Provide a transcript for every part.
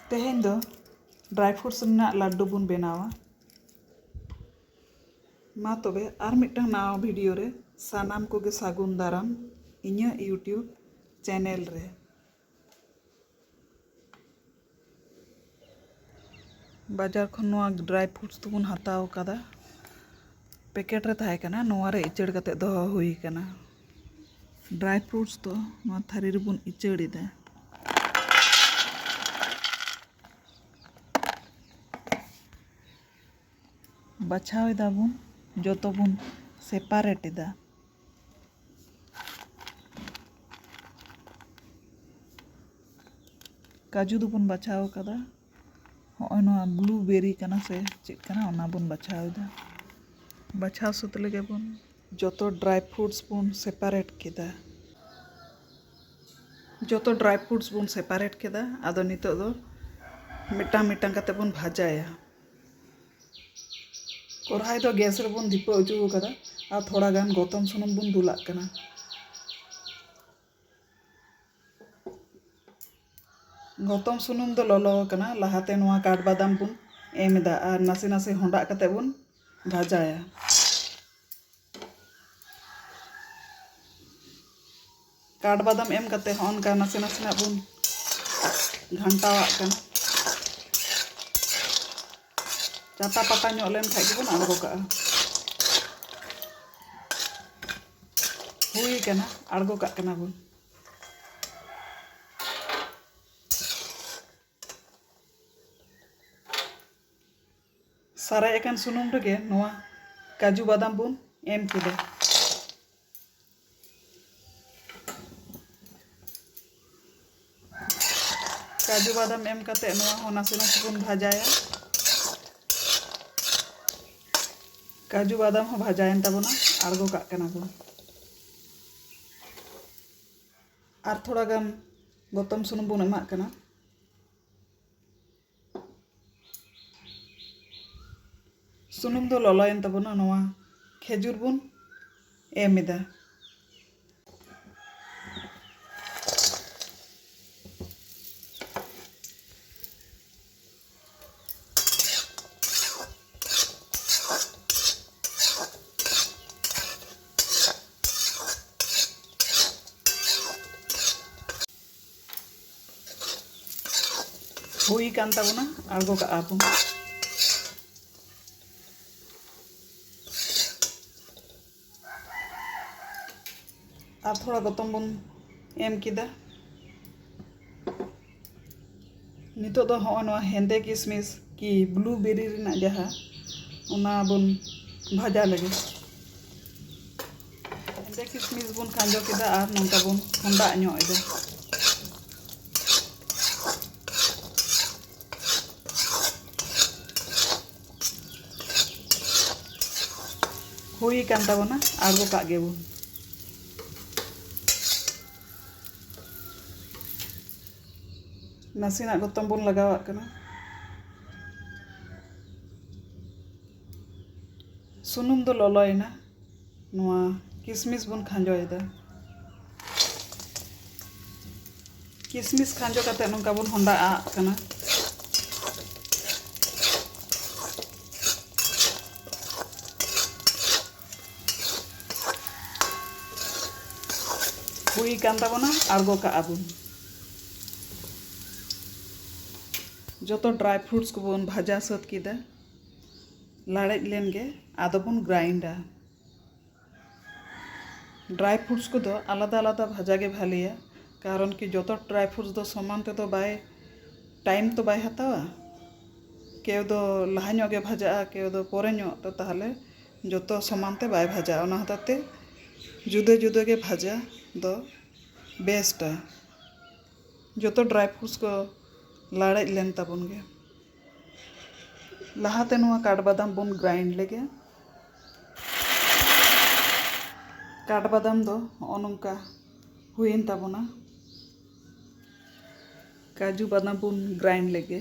ᱛᱮᱦᱮᱧ ᱫᱚ dry fruits ᱨᱮᱱᱟᱜ ᱞᱟᱹᱰᱩ ᱵᱚᱱ ᱵᱮᱱᱟᱣᱟ ᱢᱟ ᱛᱚᱵᱮ ᱟᱨ ᱢᱤᱫᱴᱟᱝ ᱱᱟᱣᱟ ᱵᱷᱤᱰᱤᱭᱳ ᱨᱮ ᱥᱟᱱᱟᱢ ᱠᱚᱜᱮ ᱥᱟᱹᱜᱩᱱ ᱫᱟᱨᱟᱢ ᱤᱧᱟᱹᱜ ᱤᱭᱩᱴᱤᱭᱩᱵᱽ ᱪᱮᱱᱮᱞ ᱨᱮ ᱵᱟᱡᱟᱨ ᱠᱷᱚᱱ ᱱᱚᱣᱟ ᱰᱨᱟᱭ ᱯᱷᱨᱩᱴᱥ ᱫᱚᱵᱚᱱ ᱦᱟᱛᱟᱣ ᱟᱠᱟᱫᱟ ᱯᱮᱠᱮᱴ ᱨᱮ ᱛᱟᱦᱮᱸ ᱠᱟᱱᱟ ᱱᱚᱣᱟ ᱨᱮ ᱤᱪᱟᱹᱲ ᱠᱟᱛᱮ ᱫᱚᱦᱚ ᱦᱩᱭ ᱟᱠᱟᱱᱟ ᱰᱨᱟᱭ ᱯᱷᱨᱩᱴᱥ ᱫᱚ ᱱᱚᱣᱟ ᱛᱷᱟᱹᱨᱤ ᱨᱮᱵᱚᱱ ᱤᱪᱟᱹᱲ ᱮᱫᱟ ᱵᱟᱪᱷᱟᱣ ᱮᱫᱟᱵᱚᱱ ᱡᱚᱛᱚ ᱵᱚᱱ ᱥᱮᱯᱟᱨᱮᱴ ᱮᱫᱟ ᱠᱟᱹᱡᱩ ᱫᱚᱵᱚᱱ ᱵᱟᱪᱷᱟᱣ ᱠᱟᱫᱟ ᱦᱚᱸᱜᱼᱚᱭ ᱱᱚᱣᱟ ᱵᱞᱩ ᱵᱮᱨᱤ ᱠᱟᱱᱟ ᱥᱮ ᱪᱮᱫ ᱠᱟᱱᱟ ᱚᱱᱟ ᱵᱚᱱ ᱵᱟᱪᱷᱟᱣᱫᱟ ᱵᱟᱪᱷᱟᱣ ᱥᱟᱹᱛ ᱞᱮᱜᱮ ᱵᱚᱱ ᱡᱚᱛᱚ ᱰᱨᱟᱭ ᱯᱷᱨᱩᱴᱥ ᱵᱚᱱ ᱥᱮᱯᱟᱨᱮᱴ ᱠᱮᱫᱟ ᱡᱚᱛᱚ ᱰᱨᱟᱭ ᱯᱷᱨᱩᱴᱥ ᱵᱚᱱ ᱥᱮᱯᱟᱨᱮᱴ ᱠᱮᱫᱟ ᱟᱫᱚ ᱱᱤᱛᱚᱜ ᱫᱚ ᱢᱤᱫᱴᱟᱝ ᱢᱤᱫᱴᱟᱝ ᱠᱟᱛᱮ ᱵᱚᱱ ᱵᱷᱟᱡᱟᱭᱟ ᱠᱚᱨᱦᱟᱭ ᱫᱚ ᱜᱮᱥ ᱨᱮᱵᱚᱱ ᱫᱷᱤᱯᱟᱹ ᱚᱪᱚ ᱟᱠᱟᱫᱟ ᱟᱨ ᱛᱷᱚᱲᱟ ᱜᱟᱱ ᱜᱚᱛᱚᱢ ᱥᱩᱱᱩᱢ ᱵᱚᱱ ᱫᱩᱞᱟᱜ ᱠᱟᱱᱟ ᱜᱚᱛᱚᱢ ᱥᱩᱱᱩᱢ ᱫᱚ ᱞᱚᱞᱚ ᱟᱠᱟᱱᱟ ᱞᱟᱦᱟᱛᱮ ᱱᱚᱣᱟ ᱠᱟᱴ ᱵᱟᱫᱟᱢ ᱵᱚᱱ ᱮᱢ ᱮᱫᱟ ᱟᱨ ᱱᱟᱥᱮ ᱱᱟᱥᱮ ᱦᱚᱸᱰᱟᱜ ᱠᱟᱛᱮ ᱵᱚᱱ ᱵᱷᱟᱡᱟᱭᱟ ᱠᱟᱴ ᱵᱟᱫᱟᱢ ᱮᱢ ᱠᱟᱛᱮ ᱦᱚᱸ ᱚᱱᱠᱟ ᱱᱟᱥᱮ ᱱᱟᱥᱮᱱᱟᱜ ᱵᱚᱱ ᱜᱷᱟᱱᱴᱟᱣᱟᱜ ᱠᱟᱱᱟ ᱪᱟᱴᱟ ᱯᱟᱴᱟ ᱧᱚᱜ ᱞᱮᱱ ᱠᱷᱟᱡ ᱜᱮᱵᱚᱱ ᱟᱬᱜᱚ ᱠᱟᱜᱼᱟ ᱦᱩᱭ ᱠᱟᱱᱟ ᱟᱬᱜᱚ ᱠᱟᱜ ᱠᱟᱱᱟ ᱵᱚᱱ ᱥᱟᱨᱮᱡ ᱟᱠᱟᱱ ᱥᱩᱱᱩᱢ ᱨᱮᱜᱮ ᱱᱚᱣᱟ ᱠᱟᱡᱩ ᱵᱟᱫᱟᱢ ᱵᱚᱱ ᱮᱢ ᱠᱮᱫᱟ ᱠᱟᱡᱩ ᱵᱟᱫᱟᱢ ᱮᱢ ᱠᱟᱛᱮ ᱱᱚᱣᱟ ᱦᱚᱸ ᱱᱟᱥᱮ ᱱᱟᱥᱮ ᱵᱚᱱ ᱵᱷᱟᱡᱟᱭᱟ ᱠᱟᱡᱩ ᱵᱟᱫᱟᱢ ᱦᱚᱸ ᱵᱷᱟᱡᱟᱭᱮᱱ ᱛᱟᱵᱚᱱᱟ ᱟᱬᱜᱚ ᱠᱟᱜ ᱠᱟᱱᱟ ᱵᱚᱱ ᱟᱨ ᱛᱷᱚᱲᱟ ᱜᱟᱱ ᱜᱚᱛᱚᱢ ᱥᱩᱱᱩᱢ ᱵᱚᱱ ᱮᱢᱟᱜ ᱠᱟᱱᱟ ᱥᱩᱱᱩᱢ ᱫᱚ ᱞᱚᱞᱚᱭᱮᱱ ᱛᱟᱵᱚᱱᱟ ᱱᱚᱣᱟ ᱠᱷᱮᱡᱩᱨ ᱵᱚᱱ ᱮᱢ ᱮᱫᱟ ᱦᱩᱭ ᱠᱟᱱ ᱛᱟᱵᱚᱱᱟ ᱟᱬᱜᱚ ᱠᱟᱜᱼᱟ ᱵᱚᱱ ᱟᱨ ᱛᱷᱚᱲᱟ ᱜᱚᱛᱚᱢ ᱵᱚᱱ ᱮᱢ ᱠᱮᱫᱟ ᱱᱤᱛᱚᱜ ᱫᱚ ᱦᱚᱜᱼᱚᱭ ᱱᱚᱣᱟ ᱦᱮᱸᱫᱮ ᱠᱤᱥᱢᱤᱥ ᱠᱤ ᱵᱞᱩ ᱵᱮᱨᱤ ᱨᱮᱱᱟᱜ ᱡᱟᱦᱟᱸ ᱚᱱᱟ ᱵᱚᱱ ᱵᱷᱟᱡᱟ ᱞᱮᱜᱮ ᱦᱮᱸᱫᱮ ᱠᱤᱥᱢᱤᱥ ᱵᱚᱱ ᱠᱷᱟᱸᱡᱚ ᱠᱮᱫᱟ ᱟᱨ ᱱᱚᱝᱠᱟ ᱵᱚᱱ ᱦᱚᱸᱰᱟ ᱧᱚᱜ ᱮᱫᱟ ᱦᱩᱭ ᱟᱠᱟᱱ ᱛᱟᱵᱚᱱᱟ ᱟᱬᱜᱚ ᱠᱟᱜ ᱜᱮᱵᱚᱱ ᱱᱟᱥᱮᱱᱟᱜ ᱜᱚᱛᱚᱢ ᱵᱚᱱ ᱞᱟᱜᱟᱣᱟᱜ ᱠᱟᱱᱟ ᱥᱩᱱᱩᱢ ᱫᱚ ᱞᱚᱞᱚᱭᱮᱱᱟ ᱱᱚᱣᱟ ᱠᱤᱥᱢᱤᱥ ᱵᱚᱱ ᱠᱷᱟᱸᱡᱚᱭᱮᱫᱟ ᱠᱤᱥᱢᱤᱥ ᱠᱷᱟᱸᱡᱚ ᱠᱟᱛᱮ ᱱᱚᱝᱠᱟ ᱵᱚᱱ ᱦᱚᱸᱰᱟ ᱟᱜ ᱠᱟᱱᱟ ᱦᱩᱭ ᱟᱠᱟᱱ ᱛᱟᱵᱚᱱᱟ ᱟᱬᱜᱚ ᱠᱟᱜᱼᱟ ᱵᱚᱱ ᱡᱚᱛᱚ ᱰᱨᱟᱭ ᱯᱷᱨᱩᱴᱥ ᱠᱚᱵᱚᱱ ᱵᱷᱟᱡᱟ ᱥᱟᱹᱛ ᱠᱮᱫᱟ ᱞᱟᱲᱮᱡ ᱞᱮᱱ ᱜᱮ ᱟᱫᱚ ᱵᱚᱱ ᱜᱨᱟᱭᱤᱱᱰᱟ ᱰᱨᱟᱭ ᱯᱷᱨᱩᱴᱥ ᱠᱚᱫᱚ ᱟᱞᱟᱫᱟ ᱟᱞᱟᱫᱟ ᱵᱷᱟᱡᱟ ᱜᱮ ᱵᱷᱟᱞᱮᱭᱟ ᱠᱟᱨᱚᱱ ᱠᱤ ᱡᱚᱛᱚ ᱰᱨᱟᱭ ᱯᱷᱨᱩᱴᱥ ᱫᱚ ᱥᱚᱢᱟᱱ ᱛᱮᱫᱚ ᱵᱟᱭ ᱴᱟᱭᱤᱢ ᱛᱚ ᱵᱟᱭ ᱦᱟᱛᱟᱣᱟ ᱠᱮᱣ ᱫᱚ ᱞᱟᱦᱟ ᱧᱚᱜ ᱜᱮ ᱵᱷᱟᱡᱟᱜᱼᱟ ᱠᱮᱣ ᱫᱚ ᱯᱚᱨᱮ ᱧᱚᱜ ᱛᱚ ᱛᱟᱦᱚᱞᱮ ᱡᱚᱛᱚ ᱥᱚᱢᱟᱱ ᱛᱮ ᱵᱟᱭ ᱵᱷᱟᱡᱟᱜᱼᱟ ᱚᱱᱟ ᱦᱚᱛᱮᱡ ᱛᱮ ᱡᱩᱫᱟᱹ ᱡᱩᱫᱟᱹ ᱜᱮ ᱵᱷᱟᱡᱟ ᱫᱚ ᱵᱮᱥᱴᱼᱟ ᱡᱚᱛᱚ ᱰᱨᱟᱭ ᱯᱷᱨᱩᱴᱥ ᱠᱚ ᱞᱟᱲᱮᱡ ᱞᱮᱱ ᱛᱟᱵᱚᱱ ᱜᱮ ᱞᱟᱦᱟ ᱛᱮ ᱱᱚᱣᱟ ᱠᱟᱴ ᱵᱟᱫᱟᱢ ᱵᱚᱱ ᱜᱨᱟᱭᱤᱱᱰ ᱞᱮᱜᱮ ᱠᱟᱴ ᱵᱟᱫᱟᱢ ᱫᱚ ᱱᱚᱜᱼᱚ ᱱᱚᱝᱠᱟ ᱦᱩᱭᱮᱱ ᱛᱟᱵᱚᱱᱟ ᱠᱟᱡᱩ ᱵᱟᱫᱟᱢ ᱵᱚᱱ ᱜᱨᱟᱭᱤᱱᱰ ᱞᱮᱜᱮ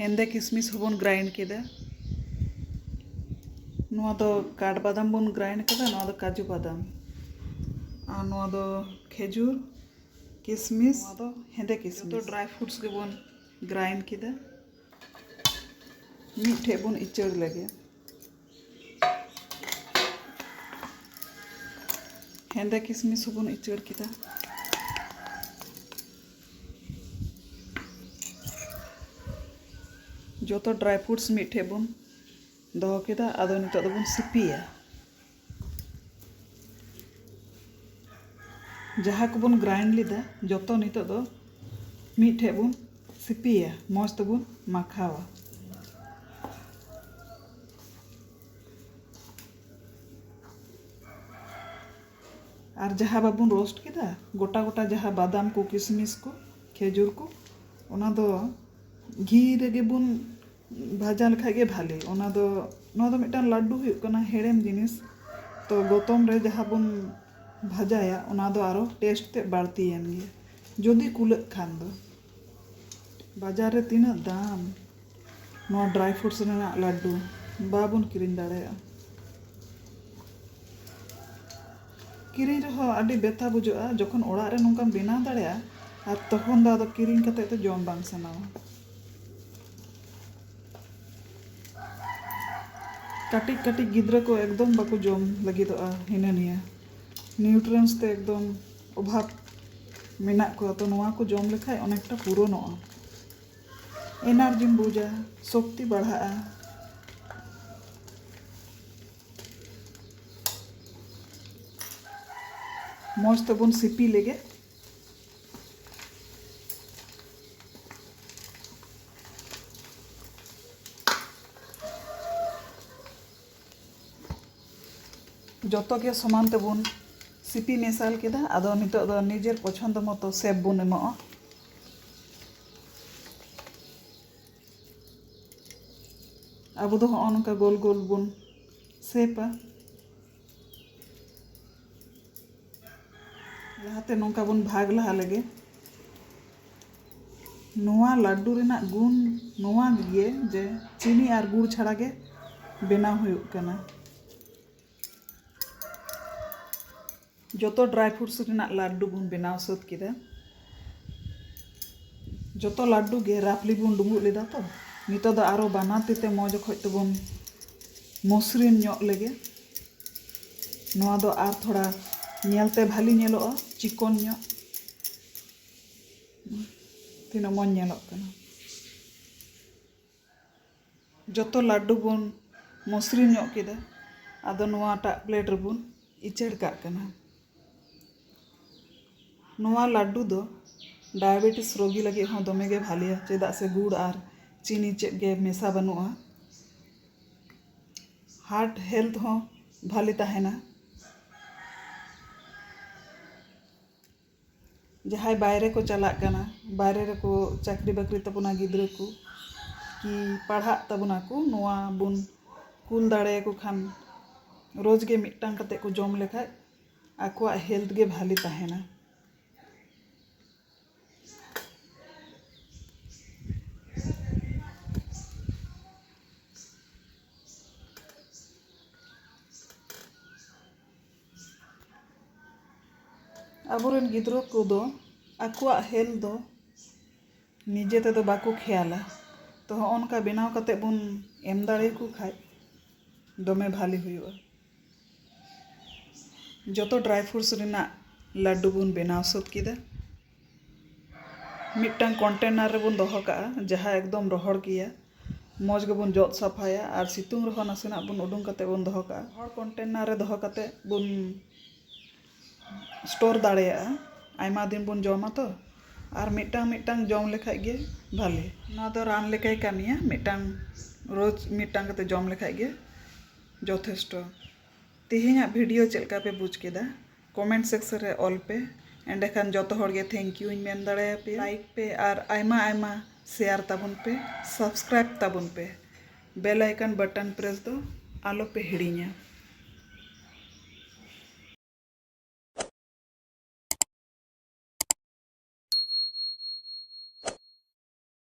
ᱦᱮᱸᱫᱮ ᱠᱤᱥᱢᱤᱥ ᱦᱚᱸᱵᱚᱱ ᱜᱨᱟᱭᱤᱱᱰ ᱠᱮᱫᱟ ᱱᱚᱣᱟ ᱫᱚ ᱠᱟᱴ ᱵᱟᱫᱟᱢ ᱵᱚᱱ ᱜᱨᱟᱭᱤᱱᱰ ᱠᱮᱫᱟ ᱱᱚᱣᱟ ᱫᱚ ᱠᱟᱡᱩ ᱵᱟᱫᱟᱢ ᱟᱨ ᱱᱚᱣᱟ ᱫᱚ ᱠᱷᱮᱡᱩᱨ ᱠᱤᱥᱢᱤᱥ ᱱᱚᱣᱟ ᱫᱚ ᱦᱮᱸᱫᱮ ᱠᱤᱥᱢᱤᱥ ᱡᱚᱛᱚ ᱰᱨᱟᱭ ᱯᱷᱨᱩᱴᱥ ᱜᱮᱵᱚᱱ ᱜᱨᱟᱭᱤᱱᱰ ᱠᱮᱫᱟ ᱢᱤᱫᱴᱷᱮᱡ ᱵᱚᱱ ᱤᱪᱟᱹᱲ ᱞᱮᱜᱮ ᱦᱮᱸᱫᱮ ᱠᱤᱥᱢᱤᱥ ᱦᱚᱸᱵᱚᱱ ᱩᱪᱟᱹᱲ ᱠᱮᱫᱟ ᱡᱚᱛᱚ ᱰᱨᱟᱭ ᱯᱷᱨᱩᱴᱥ ᱢᱤᱫᱴᱷᱮᱡ ᱵᱚᱱ ᱫᱚᱦᱚ ᱠᱮᱫᱟ ᱟᱫᱚ ᱱᱤᱛᱚᱜ ᱫᱚᱵᱚᱱ ᱥᱤᱯᱤᱭᱟ ᱡᱟᱦᱟᱸ ᱠᱚᱵᱚᱱ ᱜᱨᱟᱭᱤᱱᱰ ᱞᱮᱫᱟ ᱡᱚᱛᱚ ᱱᱤᱛᱚᱜ ᱫᱚ ᱢᱤᱫᱴᱷᱮᱡ ᱵᱚᱱ ᱥᱤᱯᱤᱭᱟ ᱢᱚᱡᱽ ᱛᱮᱵᱚᱱ ᱢᱟᱠᱷᱟᱣᱟ ᱟᱨ ᱡᱟᱦᱟᱸ ᱵᱟᱵᱚᱱ ᱨᱳᱥᱴ ᱠᱮᱫᱟ ᱜᱚᱴᱟ ᱜᱚᱴᱟ ᱡᱟᱦᱟᱸ ᱵᱟᱫᱟᱢ ᱠᱚ ᱠᱤᱥᱢᱤᱥ ᱠᱚ ᱠᱷᱮᱡᱩᱨ ᱠᱚ ᱚᱱᱟ ᱫᱚ ᱜᱷᱤ ᱨᱮᱜᱮ ᱵᱚᱱ ᱵᱷᱟᱡᱟ ᱞᱮᱠᱷᱟᱡ ᱜᱮ ᱵᱷᱟᱞᱮ ᱚᱱᱟ ᱫᱚ ᱱᱚᱣᱟ ᱫᱚ ᱢᱤᱫᱴᱟᱝ ᱞᱟᱹᱰᱩ ᱦᱩᱭᱩᱜ ᱠᱟᱱᱟ ᱦᱮᱲᱮᱢ ᱡᱤᱱᱤᱥ ᱛᱚ ᱜᱚᱛᱚᱢ ᱨᱮ ᱡᱟᱦᱟᱸ ᱵᱚᱱ ᱵᱷᱟᱡᱟᱭᱟ ᱚᱱᱟ ᱫᱚ ᱟᱨᱚ ᱴᱮᱥᱴ ᱛᱮᱫ ᱵᱟᱹᱲᱛᱤᱭᱮᱱ ᱜᱮ ᱡᱩᱫᱤ ᱠᱩᱞᱟᱹᱜ ᱠᱷᱟᱱ ᱫᱚ ᱵᱟᱡᱟᱨ ᱨᱮ ᱛᱤᱱᱟᱹᱜ ᱫᱟᱢ᱾ ᱱᱚᱣᱟ ᱰᱨᱟᱭ ᱯᱷᱨᱩᱴᱥ ᱨᱮᱱᱟᱜ ᱞᱟᱰᱰᱩ ᱵᱟᱵᱚᱱ ᱠᱤᱨᱤᱧ ᱫᱟᱲᱮᱭᱟᱜᱼᱟ᱾ ᱠᱤᱨᱤᱧ ᱨᱮᱦᱚᱸ ᱟᱹᱰᱤ ᱵᱮᱛᱷᱟ ᱵᱩᱡᱷᱟᱹᱜᱼᱟ᱾ ᱡᱚᱠᱷᱚᱱ ᱚᱲᱟᱜ ᱨᱮ ᱱᱚᱝᱠᱟᱢ ᱵᱮᱱᱟᱣ ᱫᱟᱲᱮᱭᱟᱜᱼᱟ ᱟᱨ ᱛᱚᱠᱷᱚᱱ ᱫᱚ ᱟᱫᱚ ᱠᱤᱨᱤᱧ ᱠᱟᱛᱮ ᱫᱚ ᱡᱚᱢ ᱵᱟᱝ ᱥᱟᱱᱟᱣᱟ᱾ ᱠᱟᱹᱴᱤᱡ ᱠᱟᱹᱴᱤᱡ ᱜᱤᱫᱽᱨᱟᱹ ᱠᱚ ᱮᱠᱫᱚᱢ ᱵᱟᱠᱚ ᱡᱚᱢ ᱞᱟᱹᱜᱤᱫᱚᱜᱼᱟ ᱦᱤᱱᱟᱹ ᱱᱤᱭᱟᱹ ᱱᱤᱭᱩᱴᱨᱮᱱᱥ ᱛᱮ ᱮᱠᱫᱚᱢ᱾ ᱚᱵᱷᱟᱵᱽ ᱢᱮᱱᱟᱜ ᱠᱚᱣᱟ ᱛᱚ ᱱᱚᱣᱟ ᱠᱚ ᱡᱚᱢ ᱞᱮᱠᱷᱟᱡ ᱚᱱᱮᱠᱴᱟ ᱯᱩᱨᱚᱱᱚᱜᱼᱟ ᱮᱱᱟᱨᱡᱤᱢ ᱵᱩᱡᱟ ᱥᱚᱠᱛᱤ ᱵᱟᱲᱦᱟᱜᱼᱟ ᱢᱚᱡᱽ ᱛᱮᱵᱚᱱ ᱥᱤᱯᱤ ᱞᱮᱜᱮ ᱡᱚᱛᱚ ᱜᱮ ᱥᱚᱢᱟᱱ ᱛᱮᱵᱚᱱ ᱥᱤᱯᱤ ᱢᱮᱥᱟᱞ ᱠᱮᱫᱟ ᱟᱫᱚ ᱱᱤᱛᱚᱜ ᱫᱚ ᱱᱤᱡᱮᱨ ᱯᱚᱪᱷᱚᱱᱫᱚ ᱢᱚᱛᱚ ᱥᱮᱯ ᱵᱚᱱ ᱮᱢᱚᱜᱼᱟ ᱟᱵᱚ ᱫᱚ ᱦᱚᱸᱜᱼᱚ ᱱᱚᱝᱠᱟ ᱜᱳᱞ ᱜᱳᱞ ᱵᱚᱱ ᱥᱮᱯᱟ ᱞᱟᱦᱟᱛᱮ ᱱᱚᱝᱠᱟ ᱵᱚᱱ ᱵᱷᱟᱜᱽ ᱞᱟᱦᱟ ᱞᱮᱜᱮ᱾ ᱱᱚᱣᱟ ᱞᱟᱹᱰᱰᱩ ᱨᱮᱱᱟᱜ ᱜᱩᱱ ᱱᱚᱣᱟ ᱜᱮ ᱡᱮ ᱪᱤᱱᱤ ᱟᱨ ᱜᱩᱲ ᱪᱷᱟᱲᱟ ᱜᱮ ᱵᱮᱱᱟᱣ ᱦᱩᱭᱩᱜ ᱠᱟᱱᱟ᱾ ᱡᱚᱛᱚ ᱰᱨᱟᱭ ᱯᱷᱨᱩᱴᱥ ᱨᱮᱱᱟᱜ ᱞᱟᱹᱰᱰᱩ ᱵᱚᱱ ᱵᱮᱱᱟᱣ ᱥᱟᱹᱛ ᱠᱮᱫᱟ᱾ ᱡᱚᱛᱚ ᱞᱟᱹᱰᱰᱩ ᱜᱮ ᱨᱟᱯᱷᱞᱤ ᱵᱚᱱ ᱰᱩᱸᱵᱩᱜ ᱞᱮᱫᱟ ᱛᱚ᱾ ᱱᱤᱛᱚᱜ ᱫᱚ ᱟᱨᱚ ᱵᱟᱱᱟᱨ ᱛᱤ ᱛᱮ ᱢᱚᱡᱽ ᱚᱠᱚᱡ ᱛᱮᱵᱚᱱ ᱢᱚᱥᱨᱤᱱ ᱧᱚᱜ ᱞᱮᱜᱮ᱾ ᱱᱚᱣᱟ ᱫᱚ ᱟᱨ ᱛᱷᱚᱲᱟ ᱧᱮᱞ ᱛᱮ ᱵᱷᱟᱞᱤ ᱧᱮᱞᱚᱜᱼᱟ ᱪᱤᱠᱚᱱ ᱧᱚᱜ ᱛᱤᱱᱟᱹᱜ ᱢᱚᱡᱽ ᱧᱮᱞᱚᱜ ᱠᱟᱱᱟ ᱡᱚᱛᱚ ᱞᱟᱹᱰᱩ ᱵᱚᱱ ᱢᱚᱥᱨᱤᱱ ᱧᱚᱜ ᱠᱮᱫᱟ ᱟᱫᱚ ᱱᱚᱣᱟᱴᱟᱜ ᱯᱞᱮᱴ ᱨᱮᱵᱚᱱ ᱩᱪᱟᱹᱲ ᱠᱟᱜ ᱠᱟᱱᱟ ᱱᱚᱣᱟ ᱞᱟᱹᱰᱩ ᱫᱚ ᱰᱟᱭᱟᱵᱮᱴᱤᱥ ᱨᱳᱜᱤ ᱞᱟᱹᱜᱤᱫ ᱦᱚᱸ ᱫᱚᱢᱮ ᱜᱮ ᱵᱷᱟᱞᱮᱭᱟ ᱪᱮᱫᱟᱜ ᱥᱮ ᱜᱩᱲ ᱟᱨ ᱪᱤᱱᱤ ᱪᱮᱫ ᱜᱮ ᱢᱮᱥᱟ ᱵᱟᱹᱱᱩᱜᱼᱟ ᱦᱟᱨᱴ ᱦᱮᱞᱛᱷ ᱦᱚᱸ ᱵᱷᱟᱞᱮ ᱛᱟᱦᱮᱱᱟ ᱡᱟᱦᱟᱸᱭ ᱵᱟᱭᱨᱮ ᱠᱚ ᱪᱟᱞᱟᱜ ᱠᱟᱱᱟ ᱵᱟᱭᱨᱮ ᱨᱮᱠᱚ ᱪᱟᱠᱨᱤ ᱵᱟᱠᱨᱤ ᱛᱟᱵᱚᱱᱟ ᱜᱤᱫᱽᱨᱟᱹ ᱠᱚ ᱠᱤ ᱯᱟᱲᱦᱟᱜ ᱛᱟᱵᱚᱱᱟ ᱠᱚ ᱱᱚᱣᱟ ᱵᱚᱱ ᱠᱩᱞ ᱫᱟᱲᱮᱭᱟᱠᱚ ᱠᱷᱟᱱ ᱨᱳᱡᱽ ᱜᱮ ᱢᱤᱫᱴᱟᱝ ᱠᱟᱛᱮ ᱠᱚ ᱡᱚᱢ ᱞᱮᱠᱷᱟᱡ ᱟᱠᱚᱣᱟᱜ ᱦᱮᱞᱛᱷ ᱜᱮ ᱵᱷᱟᱞᱮ ᱛᱟᱦᱮᱱᱟ ᱟᱵᱚᱨᱮᱱ ᱜᱤᱫᱽᱨᱟᱹ ᱠᱚᱫᱚ ᱟᱠᱚᱣᱟᱜ ᱦᱮᱞᱛᱷ ᱫᱚ ᱱᱤᱡᱮ ᱛᱮᱫᱚ ᱵᱟᱠᱚ ᱠᱷᱮᱭᱟᱞᱟ ᱛᱚ ᱦᱚᱸᱜᱼᱚ ᱱᱚᱝᱠᱟ ᱵᱮᱱᱟᱣ ᱠᱟᱛᱮᱫ ᱵᱚᱱ ᱮᱢ ᱫᱟᱲᱮᱭᱟᱠᱚ ᱠᱷᱟᱱ ᱫᱚᱢᱮ ᱵᱷᱟᱹᱞᱤ ᱦᱩᱭᱩᱜᱼᱟ ᱡᱚᱛᱚ ᱰᱨᱟᱭ ᱯᱷᱨᱩᱴᱥ ᱨᱮᱱᱟᱜ ᱞᱟᱹᱰᱩ ᱵᱚᱱ ᱵᱮᱱᱟᱣ ᱥᱟᱹᱛ ᱠᱮᱫᱟ ᱢᱤᱫᱴᱟᱝ ᱠᱚᱱᱴᱮᱱᱟᱨ ᱨᱮᱵᱚᱱ ᱫᱚᱦᱚ ᱠᱟᱜᱼᱟ ᱡᱟᱦᱟᱸ ᱮᱠᱫᱚᱢ ᱨᱚᱦᱚᱲ ᱜᱮᱭᱟ ᱢᱚᱡᱽ ᱜᱮᱵᱚᱱ ᱡᱚᱫ ᱥᱟᱯᱷᱟᱭᱟ ᱟᱨ ᱥᱤᱛᱩᱝ ᱨᱮᱦᱚᱸ ᱱᱟᱥᱮᱱᱟᱜ ᱵᱚᱱ ᱩᱰᱩᱝ ᱠᱟᱛᱮ ᱵᱚᱱ ᱫᱚᱦᱚ ᱠᱟᱜᱼᱟ ᱨᱚᱦᱚᱲ ᱠᱚᱱᱴᱮᱱᱟᱨ ᱨᱮ ᱫᱚᱦᱚ ᱠᱟᱛᱮ ᱵᱚᱱ ᱥᱴᱳᱨ ᱫᱟᱲᱮᱭᱟᱜᱼᱟ ᱟᱭᱢᱟ ᱫᱤᱱ ᱵᱚᱱ ᱡᱚᱢᱟ ᱛᱚ ᱟᱨ ᱢᱤᱫᱴᱟᱝ ᱢᱤᱫᱴᱟᱝ ᱡᱚᱢ ᱞᱮᱠᱷᱟᱡ ᱜᱮ ᱵᱷᱟᱞᱮ ᱱᱚᱣᱟ ᱫᱚ ᱨᱟᱱ ᱞᱮᱠᱟᱭ ᱠᱟᱹᱢᱤᱭᱟ ᱢᱤᱫᱴᱟᱝ ᱨᱳᱡᱽ ᱢᱤᱫᱴᱟᱝ ᱠᱟᱛᱮ ᱡᱚᱢ ᱞᱮᱠᱷᱟᱡ ᱜᱮ ᱡᱚᱛᱷᱮᱥᱴᱚ᱾ ᱛᱮᱦᱮᱧᱟᱜ ᱵᱷᱤᱰᱤᱭᱳ ᱪᱮᱫ ᱞᱮᱠᱟ ᱯᱮ ᱵᱩᱡᱽ ᱠᱮᱫᱟ ᱠᱚᱢᱮᱱᱴ ᱥᱮᱠᱥᱚᱱ ᱨᱮ ᱚᱞ ᱯᱮ ᱮᱸᱰᱮ ᱠᱷᱟᱱ ᱡᱚᱛᱚ ᱦᱚᱲ ᱜᱮ ᱛᱷᱮᱝᱠ ᱭᱩ ᱤᱧ ᱢᱮᱱ ᱫᱟᱲᱮ ᱟᱯᱮᱭᱟ᱾ ᱞᱟᱭᱤᱠ ᱯᱮ ᱟᱨ ᱟᱭᱢᱟ ᱟᱭᱢᱟ ᱥᱮᱭᱟᱨ ᱛᱟᱵᱚᱱ ᱯᱮ ᱥᱟᱵᱥᱠᱨᱟᱭᱤᱵᱽ ᱛᱟᱵᱚᱱ ᱯᱮ ᱵᱮᱞ ᱟᱭᱠᱚᱱ ᱵᱚᱴᱚᱱ ᱯᱨᱮᱥ ᱫᱚ ᱟᱞᱚ ᱯᱮ ᱦᱤᱲᱤᱧᱟ᱾